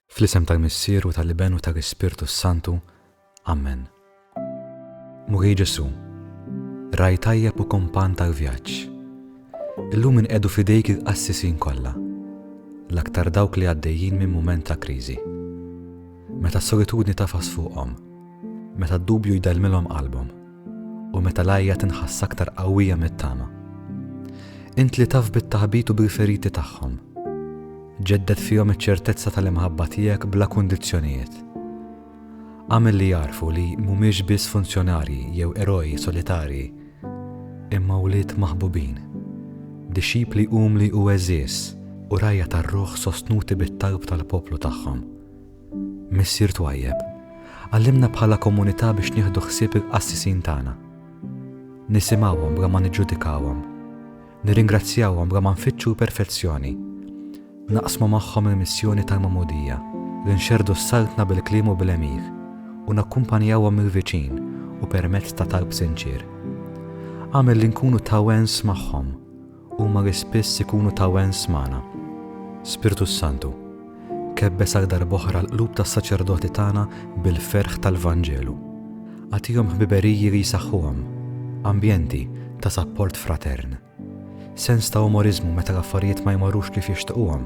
Fl-isem tal-Missier u tal-Iben u tal-Ispirtu s-Santu, Amen. Mulej Ġesù, Ragħaj tajjeb u kumpann tal-vjaġġ, illum inqiegħdu f'idejk il-qassisin kollha, l-aktar dawk li għaddejjin minn mument ta' kriżi. Meta s-solitudni tagħfas fuqhom, meta d-dubju jdellmilhom qalbhom, U meta l-għajja tinħass aktar qawwija mit-tama. Int li taf bit-taħbit u bil-feriti tagħhom. Ġedded fihom iċ-ċertezza tal-imħabba tiegħek bla kundizzjonijiet. Għamel li jarfu li mhumiex biss funzjonarji jew eroj solitarji, imma wlied maħbubin, dixxipli umli u għeżież, u rajja tar-ruħ sostnuti bit-talb tal-poplu tagħhom. Missier twajjeb, għallimna bħala komunità biex nieħdu ħsieb il-qassisin tagħna. Nisimgħuhom bla ma niġġudikawhom. Nirringrazzjawhom bla ma nfittxu l-perfezzjoni. Naqsmu magħhom il-missjoni tal-magħmudija li nxerrdu s-saltna bil-kliem u bil-għemil u nakkumpanjawhom mill-viċin u permezz ta' talb sinċier. Agħmel li nkunu tawens magħhom Huma li spiss ikunu ta' wens magħna. Spirtu s-Santu, kebbeż għal darb'oħra l-qlub tas-saċerdoti tagħna bil-ferħ tal-Vanġelu. Agħtihom ħbiberiji li jsaħħuhom, ambjenti ta' sapport fratern, sens ta' umoriżmu meta l-affarijiet ma jmorrux kif jixtiquhom,